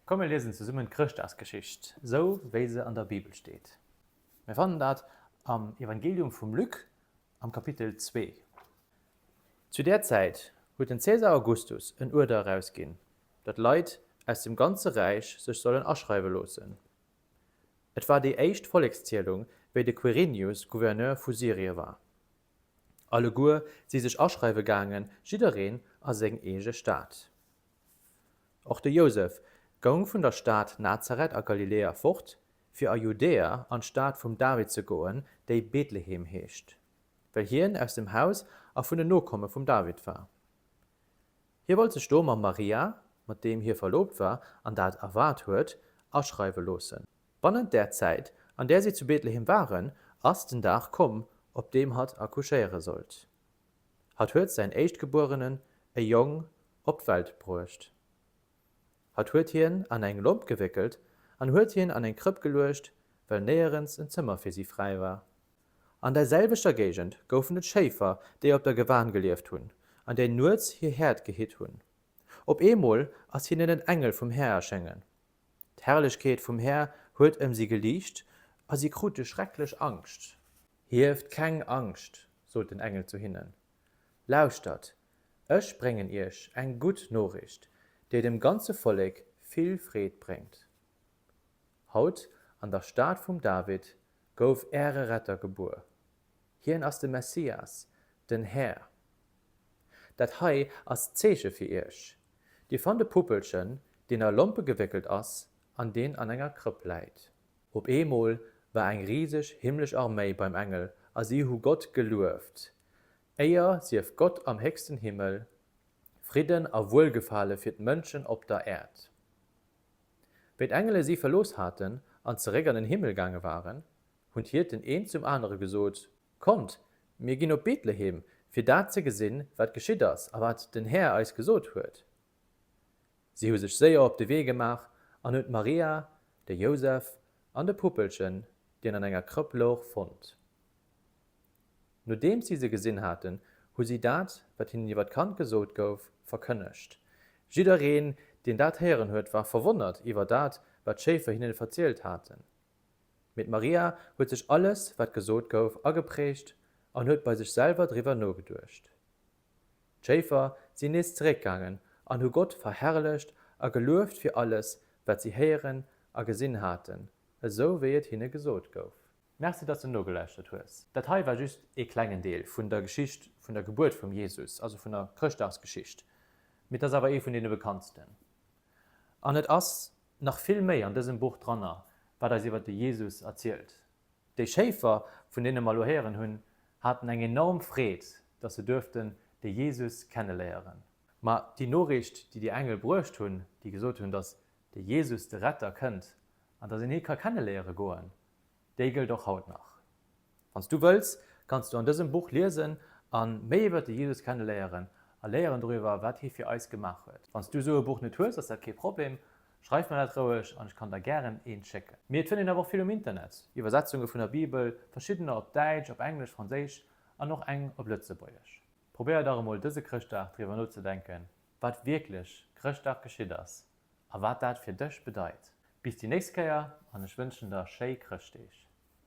Komm mir liesen zesummen d'Chrëschtdagsgeschicht, sou wéi se an der Bibel steet. Mir fannen dat am Evangelium vum Luc am Kapitel 2. Zu där Zäit huet den Cäsar Augustus en Uerder erausginn, datt Leit aus dem ganze Räich sech sollen aschreiwe loossen. Et war déi éischt Vollekszielung, wéi de Quirinius Gouverneur vu Syrie war. Alleguer si sech aschreiwe gaangen, jiddereen a seng eege Stad. Och de Jousef goung vun der Stad Nazareth a Galiläa fort, fir a Judäa an d'Stad vum David ze goen, déi Bethlehem heescht, well hien aus dem Haus a vun den Nokomme vum David war. Hie wollt sech do mam Maria, mat deem hie verloobt war an dat erwaart huet, aschreiwe loossen. Bannent där Zäit, an där si zu Betlehem waren, ass den Dag komm, op deem hatt accouchéiere sollt. Hatt huet säin Éischtgebuerenen, e Jong, op d'Welt bruecht. Hatt huet hien an eng Lomp gewéckelt an huet hien an eng Krëpp geluecht, well néierens en Zëmmer fir si fräi war. An der selwechter Géigend goufen et Schéifer, déi op der Gewan gelieft hunn an déi nuets hir Häerd gehitt hunn. Op eemol ass hinnen en Engel vum Här erschéngen. D'Herrlechkeet vum Här huet ëm si geliicht a si krute schrecklech Angscht. Hieft keng Angscht, sot den Engel zu hinnen. Lauschtert, ech bréngen iech eng gutt Noriicht, déi dem ganze Vollek vill Freed bréngt. Haut, an der Stad vum David, gouf äre Retter gebuer. Hien ass de Messias, den Här. Dat hei ass d'Zeeche fir iech, Dir fannt e Puppelchen, deen a Lompe gewéckelt ass an deen an enger Krëpp läit. Op eemol war eng riseg himmlesch Arméi beim Engel a si hu Gott gelueft. Éier sief Gott am héchsten Himmel, Fridden a Wuelgefale fir d'Mënschen op der Äerd! Wéi d'Engele si verlooss haten an zeréck an den Himmel gaange waren, hunn d'Hierten een zum anere gesot, Kommt, mir ginn op Betlehem, fir dat ze gesinn, wat geschitt ass a wat den Här eis gesot huet. Si hu sech séier op de Wee gemaach an hunn d'Maria, de Jousef an de Puppelchen, deen an enger Krëpp louch, fonnt. Nodeems si se gesinn haten, hu si dat, wat hinnen iwwer d'Kand gesot gouf, verkënnegt. Jiddereen, deen dat héieren huet, war verwonnert iwwer dat, wat d'Schéifer hinnen verzielt haten. Mee d'Maria huet sech alles, wat gesot gouf, ageprägt an huet bei sech selwer driwwer nogeduecht. D'Schéifer sinn nees zeréckgaangen an hu Gott verherrlecht a gelueft fir alles, wat si héieren a gesinn haten, esou wéi et hinne gesot gouf. Merci dass de nogelauschtert hues. Dat hei war just ee klengen Deel vun der Geschicht vun der Gebuert vum Jesus, also vun der Chrëschtdagsgeschicht, mee et ass awer ee vun deene bekanntsten. An et ass nach vill méi an dësem Buch dranner, wat eis iwwer de Jesus erzielt. Déi Schéifer, vun deene mer elo héieren hunn, haten eng enorm Freed, dass se duerften de Jesus kenneléieren. Ma déi Noriicht, déi déi Engel bruecht hunn, déi gesot hunn, dass de Jesus, de Retter, kënnt an dass een hie ka kenneléiere goen, Déi gëllt och haut nach. Wann s du wëlls, kanns du an dësem Buch liesen a méi iwwert de Jesus kenneléieren a léieren doriwwer, wat hie fir eis gemaach huet. Wann s du esou e Buch net hues, ass dat kee Problem. Schreif mer dat roueg an ech kann der gären eent schécken. Mee et fënnt een awer och vill um Internet, Iwwersetzunge vun der Bibel, verschiddener op Däitsch, op Englesch, Franséisch an och eng op Lëtzebuergesch. Probéier dach emol dëse Chrëschtdag driwwer nozedenken, wat wierklech Chrëschtdag geschitt ass A wat dat fir dech bedeit. Bis déi nächst Kéier an ech wënschen der schéi Chrëschtdeeg.